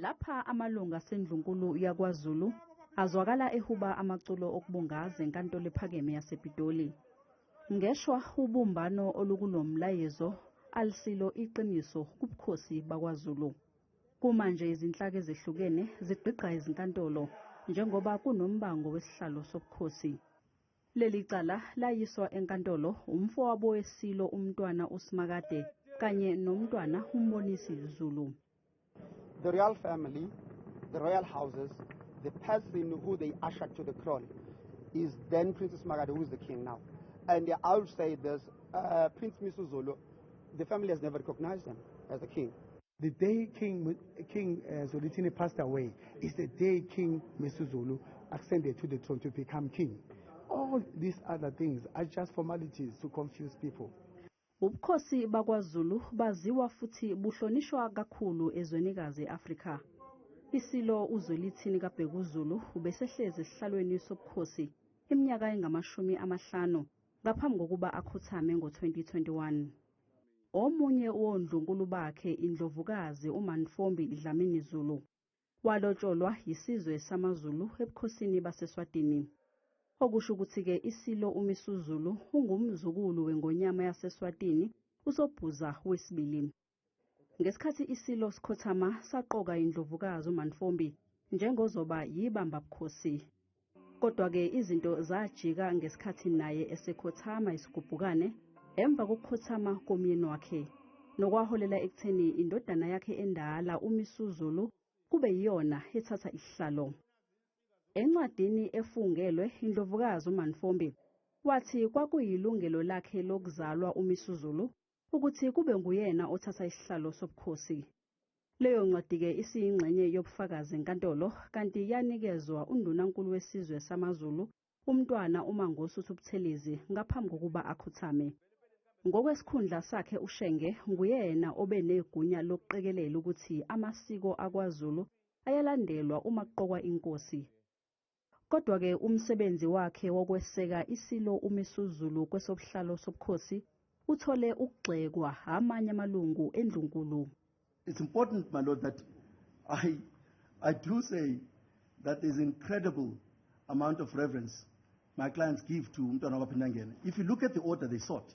Lapha amalungu asendlunkulu yakwaZulu azwakala ehuba amaculo okubungaza enkantolo ephakeme yasePitoli. Ngeshwa ubumbano olukulo mlayezo alisilo iqiniso kubukhosi bakwaZulu. Kumanje izinhlaka ezehlukene zigqigqa izinkantolo njengoba kunombango wesihlalo sobukhosi. Leli cala layiswa enkantolo umfowabo weSilo uMntwana uSimakade kanye noMntwana uMbonisi Zulu. The royal family, the royal houses, the person who they ushered to the throne is then Prince Simakade who is the king now. And I would say this, uh, Prince Misuzulu, the family has never recognized him as the king. The day King, King uh, Zwelithini passed away is the day King Misuzulu ascended to the throne to become king. All these other things are just formalities to confuse people. Ubukhosi bakwaZulu baziwa futhi buhlonishwa kakhulu ezwenikazi e-Afrika. Isilo uZwelithini kaBhekuzulu ubesehlezi esihlalweni sobukhosi iminyaka engamashumi amahlanu ngaphambi kokuba akhothame ngo-2021. Omunye wondlunkulu bakhe iNdlovukazi uMantfombi Dlamini Zulu. Walotsholwa yisizwe samaZulu ebukhosini baseSwatini. Okusho ukuthi ke iSilo uMisuzulu ungumzukulu weNgonyama yaseSwatini uSobhuza wesibili. Ngesikhathi iSilo sikhothama saqoka iNdlovukazi uMantfombi njengozoba yibambabukhosi. Kodwa-ke izinto zajika ngesikhathi naye esekhothama isigubhukane emva kokukhothama komyeni wakhe nokwaholela ekutheni indodana yakhe endala uMisuzulu kube yiyona ethatha isihlalo. Encwadini efungelwe iNdlovukazi uManfombi wathi kwakuyilungelo lakhe lokuzalwa uMisuzulu ukuthi kube nguyena othatha isihlalo sobukhosi. Leyo ncwadi-ke isiyingxenye yobufakazi enkantolo kanti yanikezwa undunankulu wesizwe samaZulu, uMntwana uMangosuthu Buthelezi ngaphambi kokuba akhothame. Ngokwesikhundla sakhe uShenge nguyena obe negunya lokuqikelela ukuthi amasiko akwaZulu ayalandelwa uma kuqokwa inkosi. Kodwa-ke umsebenzi wakhe wokweseka iSilo uMisuzulu kwesobuhlalo sobukhosi uthole ukugxekwa amanye amalungu endlunkulu. It's important, my lord, that I, I do say that there's incredible amount of reverence my clients give to uMntwana waKwaPhindangene. If you look at the order they sought,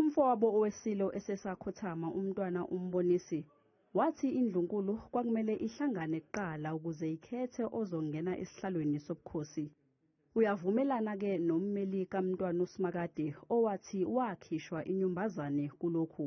Umfowabo oweSilo esesakhothama uMntwana uMbonisi, wathi iNdlunkulu kwakumele ihlangane kuqala ukuze ikhethe ozongena esihlalweni sobukhosi. Uyavumelana ke nommeli kaMntwana uSimakade owathi wakhishwa inyumbazane kulokhu.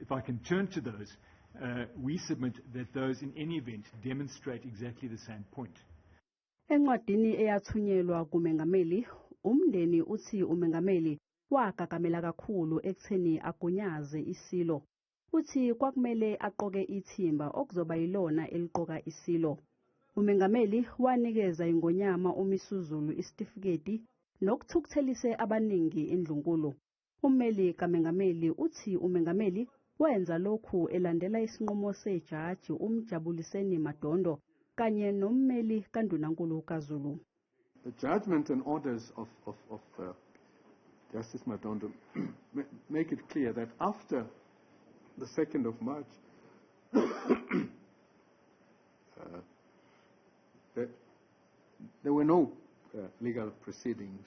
If I can turn to those, we submit that those in any event demonstrate exactly the same point. Encwadini eyathunyelwa kuMengameli, umndeni uthi uMengameli wagagamela kakhulu ekutheni agunyaze iSilo. Uthi kwakumele aqoke ithimba okuzoba yilona eliqoka iSilo. UMengameli wanikeza iNgonyama uMisuzulu isitifiketi nokuthukuthelise abaningi iNdlunkulu. Ummeli kamengameli uthi umengameli wenza lokhu elandela isinqumo sejaji uMjabuliseni Madondo kanye nommeli kandunankulu kaZulu. The judgement and orders of, of, of uh, Justice Madondo make it clear that after the 2nd of March, uh, there, there were no uh, legal proceedings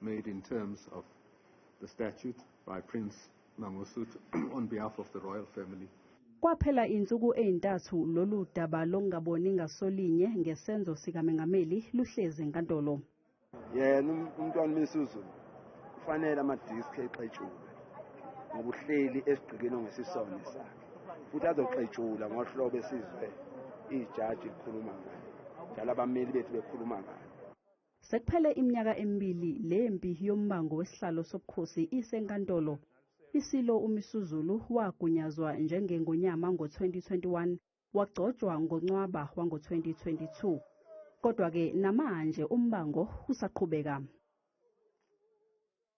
made in terms of the statute by Prince Mangosuthu on behalf of the royal family. Kwaphela insuku ezintathu lolu daba lokungaboni ngasolinye ngesenzo sikamengameli luhlezi enkantolo. Yena umntwana uMisuzulu kufanele ama-disk exetshulwe ngoba uhleli esigqikini ongesisona esakhe futhi azoxetshula ngohlobo esizwe ijaji likhuluma ngayo njalo abameli bethu bekhuluma ngayo. Sekuphele iminyaka emibili le mpi yombango wesihlalo sobukhosi isenkantolo. ISilo uMisuzulu wagunyazwa njengeNgonyama ngo-2021 wagcotshwa ngoNcwaba wango-2022. Kodwa-ke namanje umbango usaqhubeka.